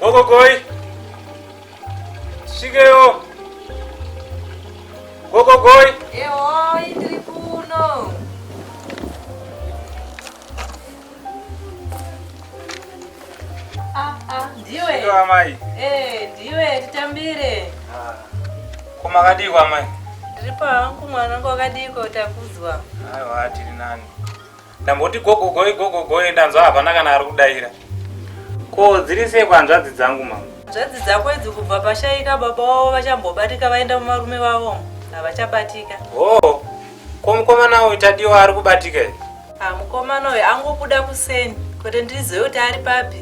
Gogogoi. Shigeyo. Gogogoi. Eoi, tiri kuno. Ah, ah, ndiwe. Shigeyo amai. Eh, ndiwe titambire. Ah. Koma kadiko amai. Ndiri pawangu mwana wakadiko takudzwa. Aiwa tiri nani. ndamboti gogogoe gogogoe ndanzwa havana kana ari kudaira ko dziri sei kwanzvadzi dzangu mama nzvadzi dzako idzi kubva pashaika baba wavo vachambobatika vaenda mumarume vavo havachabatika hoo oh, ko mukomana uyu tadiwa ari kubatika i ah, mukomana uyu angobuda kuseni kuti ndizive kuti ari papi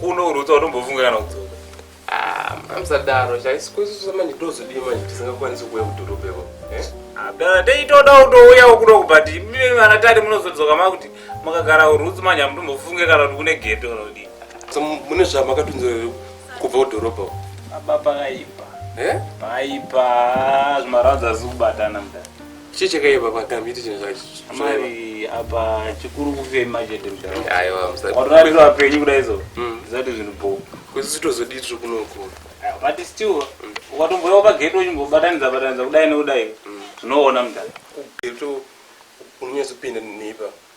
Kuno uruta unombofunga kana kudzoka. Ah, amsadaro chaisi kwesisa manje tozodii manje tisingakwanisi kuuya kudhorobha iko. Eh? Abdala teitoda kutouya ukuno but mimi vana tari munozodzoka makuti makagara urutsi manje amutombofunge kana kuti kune geto unodii. So mune zvamakatunzira kubva kudhorobha uko. Baba pakaipa. Eh? Paipa zvimarwadza zikubatana mdara. Chii chakaipa pakambi iti chinhu Amai apa chikuru kufema chete mudhara. Aiwa musati. Watorarira vapenyu kudai izvo. Mm. Zvisati zvinhu bho. Kuti sitozodii tiri kunoku. Ah, but still mm. ukatomboyawo pagate uchimbobatanidza batanidza kudai nekudai mm. zvinoona mudhara. Kugate unonyatsopinda neipa.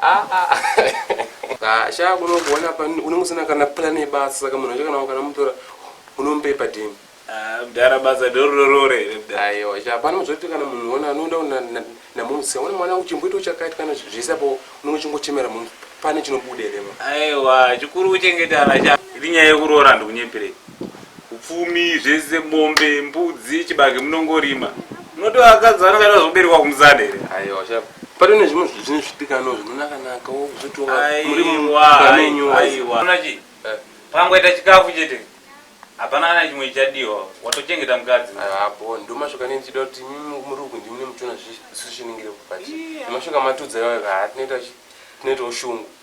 Haa haa shaa kuno kuona apa unenge usina kana plan yebasa saka munhu wacho kana wakanamutora unomupe padini Ah, mdara basa ndororore mdara aiwa shaa pano zvoti kana munhu ona anoenda kuna- na- namumsi ona mwana wangu chimboita uchakaita kana zvese apo unenge uchingochemera mumsi pane chinobuda here ma aiwa chikuru kuchengeta ana sha iri nyaya yekuroora ndikunyepirei upfumi zvese mombe mbudzi chibage munongorima munoti vakadzi vanenge vaida kuzoberekwa kumusana here aiwa shava pane ne zvimwe zvinhu zvine zvidikanwa zvinonakanaka wokuzotiwa muri aiwa mumenyu aiwa Unoona chii Eh. pangoita chikafu chete hapana kana chimwe chichadiwa watochengeta mukadzi apo ndomashoka ne ndichida kuti imi muri uku ndimi nemuchiona zvisishiningire kupati Iya. nemashoka matudza iwayo haa tinoita chi- tinoitawo shungu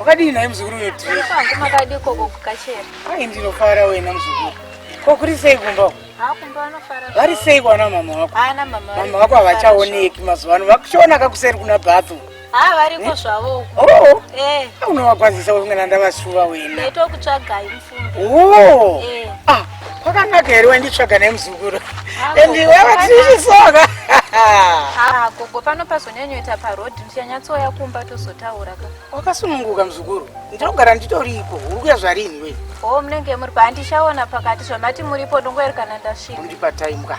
Wakadii naye muzukuru uyo Tiri? Kwangu makadii koko kukachera? Ai ndinofara wena muzukuru. Ko kuri sei kumba uko? Ah kumba anofara. Vari sei kwana mama wako? Ana mama. Mama wako havachaoneki mazuva ano. Vakuchiona kakuseri kuna Bathu. Ah variko eh? zvavo uko. Oh. Eh. Unowakwazisa wena ndavasuva wena. Ndaitokutsvagai. Oh. Eh. Ah, kwakanaka here wainditsvaga nemuzukuru and iwe vatichisoka ah, gogo pano pazonyanyoita paroad ndichanyatsouya kumba tozotaura ka wakasununguka muzukuru ndinogara nditoripo uri kuya zvarini we o oh, munenge muri pa handichaona pakati zvamati muripo ndongoerekana ndasvika undipa time ka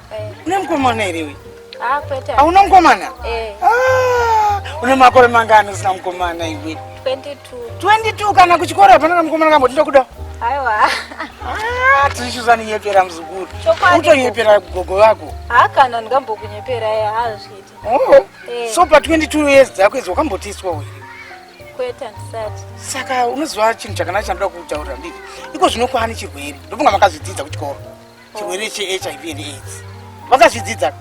Eh. Une mukomana here iwe? Ah, kwete. Hauna ah, mukomana? Eh. Ah, une makore mangani usina mukomana iwe? 22. 22 kana kuchikoro hapana kana mukomana kamboti ndokuda. Aiwa. Ah, tichiuza ninyepera muzukuru. Utonyepera gogo vako. Ah, kana ndingambokunyepera yeye eh, hazviiti. Oh. Eh. So pa 22 years dzako idzo wakambotiswa wewe? Kwete handisati. Saka unoziva chinhu chakanaka chandoda kutaura ndii. Iko zvino kwaani chirwere? Ndofunga makazvidzidza kuchikoro. chirwere chehiv and aids vakazvidzidza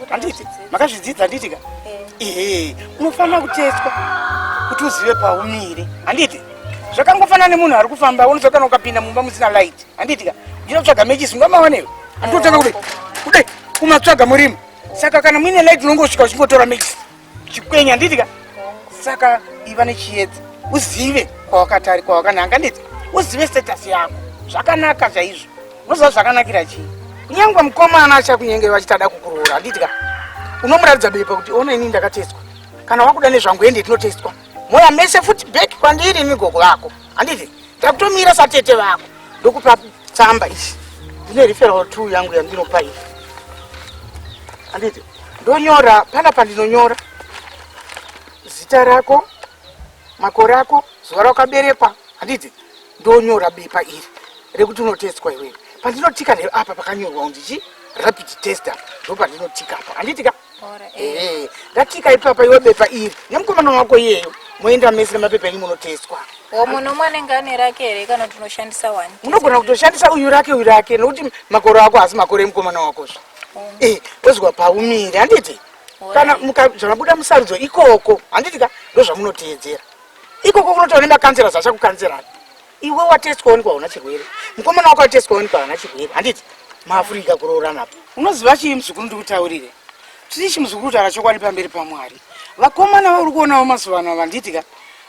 handiti makazvidzidza handiti ka ehe unofanira kutestwa kuti uzive paumire handiti zvakangofanana nemunhu ari kufamba unozva kana ukapinda mumba musina light handiti ka uchida kutsvaga mechisi ungamawanewo handitotanga kudai kudai kumatsvaga murima saka kana muine light unongosvika uchingotora mechisi chikwenya handiti ka saka iva nechiedza uzive kwawakatari kwawakananga nditi uzive status yako zvakanaka chaizvo unoziva zvakanakira chii kunyangwa mukomana achakunyengeri vachitada kukuroora handiti ka unomuratidza bepa kuti ona ini ndakatestwa kana wakuda nezvangu ende tinotestwa moya mese futi back kwandiri migogo vako handiti Takutomira satete vako. Ndokupa tsamba ichi. Ndine referral two yangu yandinopa iyi. Anditi ndonyora pana pandinonyora zita rako, makore ako, zuva rakaberekwa. Anditi ndonyora bepa iri rekuti unotestwa iwewe. Pandinotika apa pakanyorwa undichi rapid tester ndopandinotika apa. Anditi ka ehe ratika ipapa iwe bepa iri nemukomana wako iyeyo moenda mese nemapepa enyu munotestwa munhu umwe anenge ane rake here kana kuti unoshandisa wani unogona kutoshandisa uyu rake uyu rake nokuti makore ako haasi makore emukomana wakozvo eh, ozwa paumire handiti kana zvamabuda musarudzo ikoko handiti ka ndozvamunoteedzera ikoko kunotaura nemakansera zvachakukanserani iwe watestwa waonekwa hauna chirwere mukomana wako atestwa waonekwa hauna chirwere handiti maafurika kuroorana apo unoziva chii muzukuru ndikutaurire tiri chi muzukuru taura chokwadi pamberi pamwari vakomana vauri kuonawo mazuva ano vanditi ka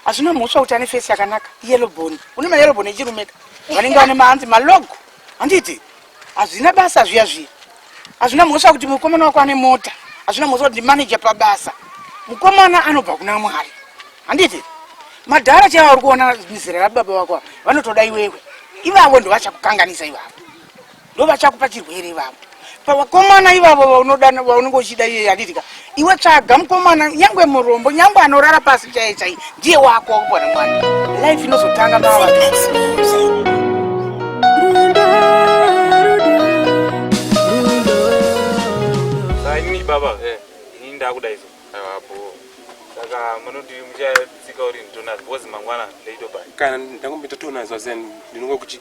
hazvina mhosva kuti ane fesi yakanaka yellow bone une mayellow bone echirumeka vanenge vane maanzi malogo handiti Hazvina basa zviya zviya. Hazvina mhosva kuti mukomana wako ane mota. Hazvina mhosva kuti manager pabasa. Mukomana anobva kuna Mwari. Handiti? Madhara chaiwo ari kuona mizera rababa wako vanotoda iwewe. Ivavo ndo vachakukanganisa ivavo. Ndo vachakupa chirwere ivavo. Pavakomana ivavo vaunodana vaunenge uchida iye handiti ka? Iwe tsvaga mukomana nyangwe murombo nyangwe anorara pasi chaiye chaiye ndiye wako wakupona mwana life inozotanga baba kana ndakumbita tonazo zen ndinonga kuti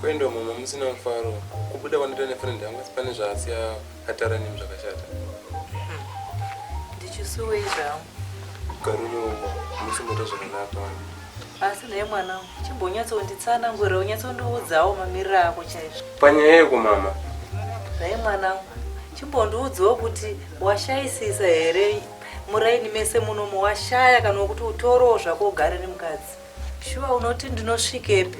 kwendo mama musina mufaro kubuda kwandita nefriend yangu asi pane zvaasiya atara nemi zvakashata ndichisuwei zvangu garuro musimboita zvakanaka asi naye mwana chimbonyatsonditsanangurira unyatsondiudzawo mamiriro ako chaizvo panyaya yeko mama naye mwana chimbondiudzawo kuti washaisisa here muraini mese muno muwashaya kana wekuti utorowo zvako ugare nemukadzi shuwa unoti ndinosvikepi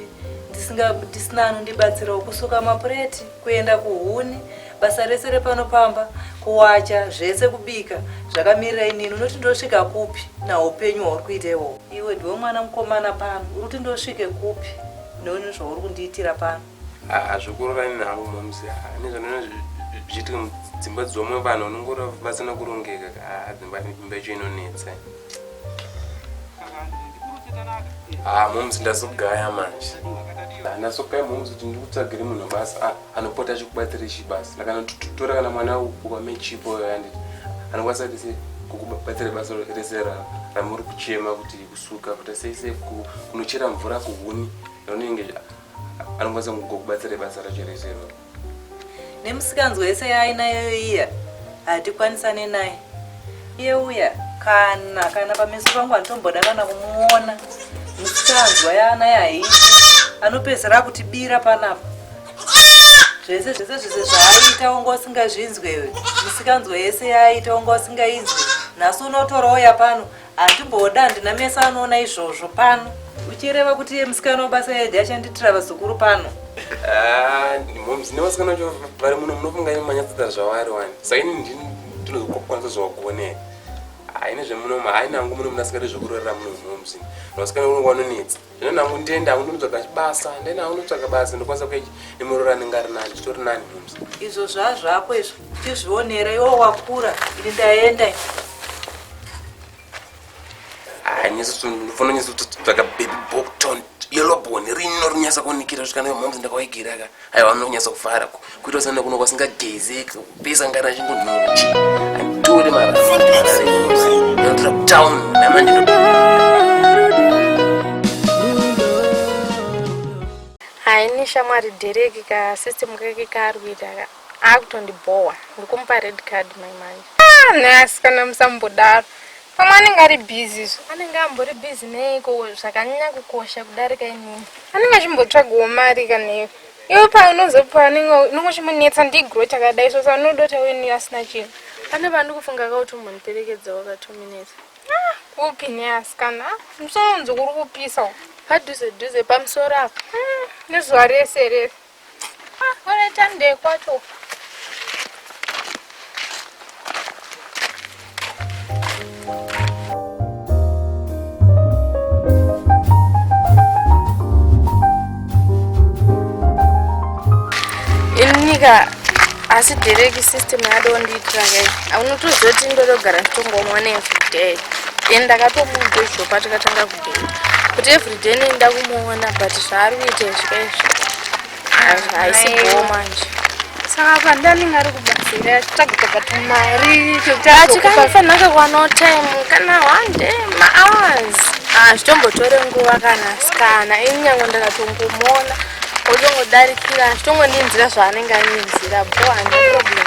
ndisina anondibatsirawo kusuka mapureti kuenda kuhuni basa rese repano pamba kuwacha zvese kubika zvakamirira inini unoti ndosvika kupi naupenyu hwauri kuita iwowo iwe ndiwe mwana mukomana pano uri kuti ndosvike kupi neuni zvauri kundiitira pano hazvikororani navo moms nezvanozviitike mudzimba dzomwe vanhu vanongora vasina kurongeka kaa dzimba imba icho inonetsa haa moms ndazogaya manje ndazogaya moms kuti ndikutsvagire munhu basa ah, anopota achikubatsire chibasa akanotora kana mwana wame chipo yanditi anokwanisa kuti sei kukubatsira basa rese ramuri kuchema kuti kusuka kuti sei sei kunochera mvura kuhuni ronenge anokwanisa kukubatsira basa racho rese iroro nemisikanzwa yese yaainayo iya hatikwanisane naye iye uya kana kana pameso pangu handitomboda kana kumuona misikanzwa yaanayo haiti anopedzera kutibira panapa zvese zvese zvese zvaaita wanga usingazvinzwewe misikanzwa yese yaaita wanga usingainzwe nhasi unotorawo yapano Handimboda handina meso anoona izvozvo pano. Uchireva kuti iye musikana wabasa yedi achanditira vazukuru pano. Ah, moms nevasikana vacho vari muno munofunga imi manyatsita zvavari wani. Saini ndini ndinozokwanisa zvawakuonei. Haine zvemunomu haina hangu muno munasikana zvekurorera muno moms. Vasikana uno vanonetsa. Ndena kundenda kundotsvaga chibasa, ndena kundotsvaga basa ndokwanisa kueji nemurora anenge ari nani, zvitori nani mumzi. Izvo zvazvako izvo, chizvionera iwo wakura, ini ndaenda. Ah, nyeso ndofona nyeso tsvaga baby bokton, yellow bone rino rinyasa kunikira zvikana mumzi ndakawaigira ka. aiwa anonyatsa kufara kuita usana kuno kwasingagezeki pesa ngana achingonhuchi anditore maraanditora kutown namandino haini shamwari dhereki ka system kake kaari kuita ka akutondibhowa ndikumupa red card mai manje ah, neasikana musambodaro Mama anenge ari busy izvo. Anenge ambori busy neiko zvakanyanya kukosha kudarika inini. Anenge achimbotsvagawo mari kanei. Iwe paunozopa anenge unenge uchimunetsa ndigro chakadai so saunoda kuti auye neni asina chinhu. Pane vandi kufunga kuti umbondiperekedza waka two minutes. Ah, kupi neasikana? Ah, musoro unzi kuri kupisa. Padhuze dhuze pamusoro apa. Ah, nezuva rese rese. Ah, vanoita ndee kwacho uku. Inika asi direct system yadondiitira kai aunotozoti ndodogara nditongoona everyday then ndakatomuudza izvopa tikatanga kuti everyday nenda kumuona but zvaari kuita izvo izvo haisi boo manje saka apa ndaninga ari kubatsira achitsvagita but mari chekutiachikanifanira kakwana time kana one day mahours hazvitombotore ah, nguva kana sikana ini nyange ndakatongomuona otongodarikira hazvitongondinzira zvaanenge aninzira boo hana problem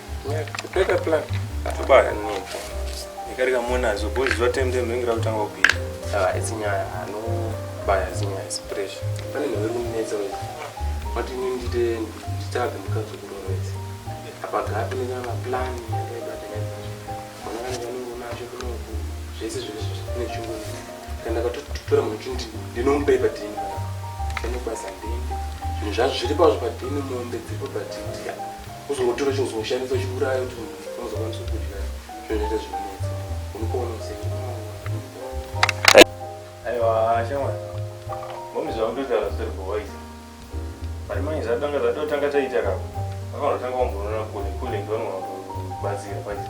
zvese zvinezvinhu kana ndakatotora munhu chindi ndinomupa ipadhini anokwanisa ndende zvinhu zvacho zviri pazvo padhini mombe dziripo padhini Kuzongotora chinhu chinoshandiswa chiuraya kuti munhu anozokwanisa kudya zvinoita zvinonetsa. Unopona usenge. Aiwa shamwari. Mommy zvamutotaura zvisiri kuwaisa. Mari manje zvatanga zvatotanga taita kapa. Vakangotanga kumboona kule kule ndivanhu vakubatsira paita.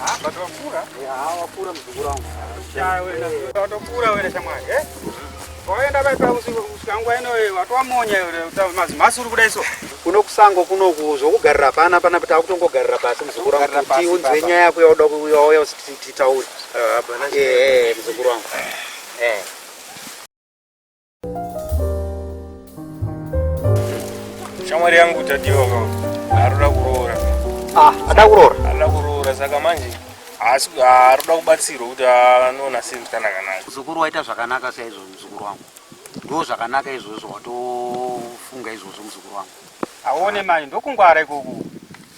Ah, but wakura? Yeah, wakura mzukuru wangu. Shaya wewe, watokura wewe shamwari, eh? Waenda bai pa usiku usikangu ino wewe, watu wamonya wewe, utamazi masuru kuda iso. Kuno kusango kuno kuzo kugarira pana pana pata kutongogarira pasi mzukuru wangu. Kuti unzwe nyaya yako yauda kuyauya usititaure. Ah, bana. Eh, mzukuru wangu. Eh. shamwari yangu tadiwa aroda kuroora ah, ada kuroora ada kuroora saka manje asi aroda kubatsirwa kuti anoona sei mutana kanaka muzukuru waita zvakanaka saizvo muzukuru wangu ndo zvakanaka izvozvo watofunga izvozvo muzukuru wangu aone manje ndokungwara ikoku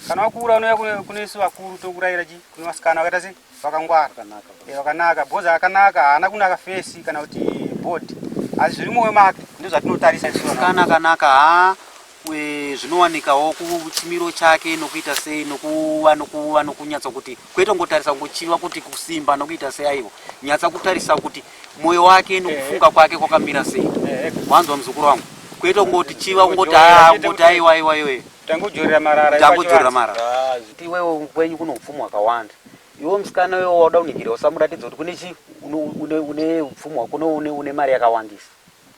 kana wakuura unouya kune isu vakuru tokurayira chi kune vasikana wakaita sei vakangwara vakanaka eh, vakanaka bhoza akanaka haana kunaka fesi kana kuti body asi zviri moyo make ndo zvatinotarisa kanakanaka ha zvinowanikawo kuchimiro chake nokuita sei nokuva nokuva nokunyatsa kuti kwete kungotarisa kungochiva kuti kusimba nokuita sei aiwa nyatsa kutarisa kuti moyo wake nokufunga kwake kwakamira sei Eh, wanzwa muzukuru wangu kwete kungoti chiva kungoti aa kungoti aiwa iwa iwe Tangodzorera marara. tangodzorera mara Ah, zi- kuti iwewe kwenyu kuno upfumo hwakawanda iwe musikana iwe wauda kuningirira usamuratidza kuti kune chi une- une une upfumo hwako une- une une mari yakawandisa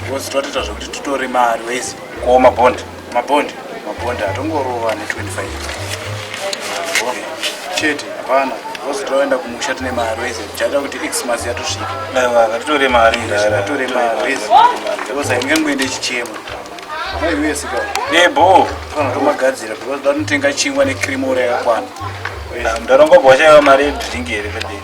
Because twatoita zvekuti tutore mari wese. Ko mabond. Mabond. Mabond atongorova ne 25. Chete hapana. Because twaenda kumusha tine mari wese. Chaita kuti Xmas yatosvika. Aiwa, ngatitore mari. Ngatitore mari wese. Because aingangoende chichemo. Aiwe sika. Nebo. Kana tomagadzira because vanotenga chingwa ne cream ora yakwana. Mudhara ngobwa chaiva mari yedringi here vedei.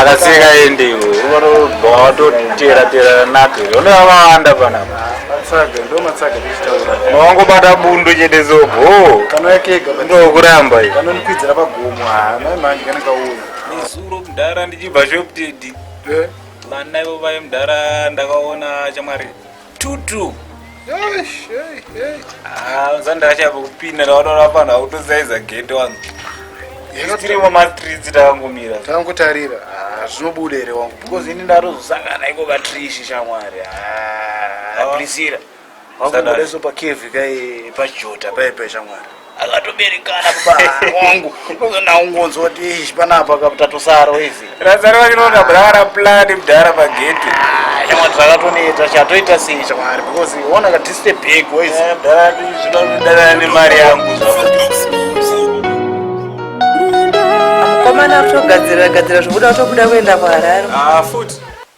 akasika endi unotobatotera nake one vavawanda panapa maongobata bundu chete zobho ndokuramba nezuro mudhara ndichibva shoptedi eh? vana ivo vaye mudhara ndakaona chamwari tutu zandakachapo kupinda ndaotaura panhu akutozaiza gate wangu tirimo matridzi takangomira takangotarira ah, zvinobuda here wangu because ini ndatozosangana iko katrishi shamwari ah, ah. aprisira wangu ndorezopa kevi kai pajota paipe shamwari akatoberekana baba wangu ndozona ungonzwa kuti ishi panapa kaputatosara wezi razaro vake noona brara plani mdhara pageti shamwari zvakatoneta chatoita sei shamwari because ona kadiste big wezi mdhara zvinoda kudanana nemari yangu Komana kutogadzira gadzira zvokuda kutobuda kuenda kuHarare. ah futi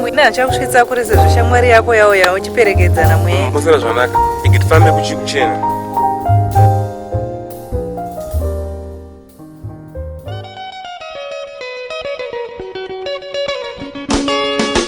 Mwina achakusvitsa kure sezvo shamwari yako yauya uchiperekedzana mweya. Mosera zvanaka. Ikitifambe kuchikuchena.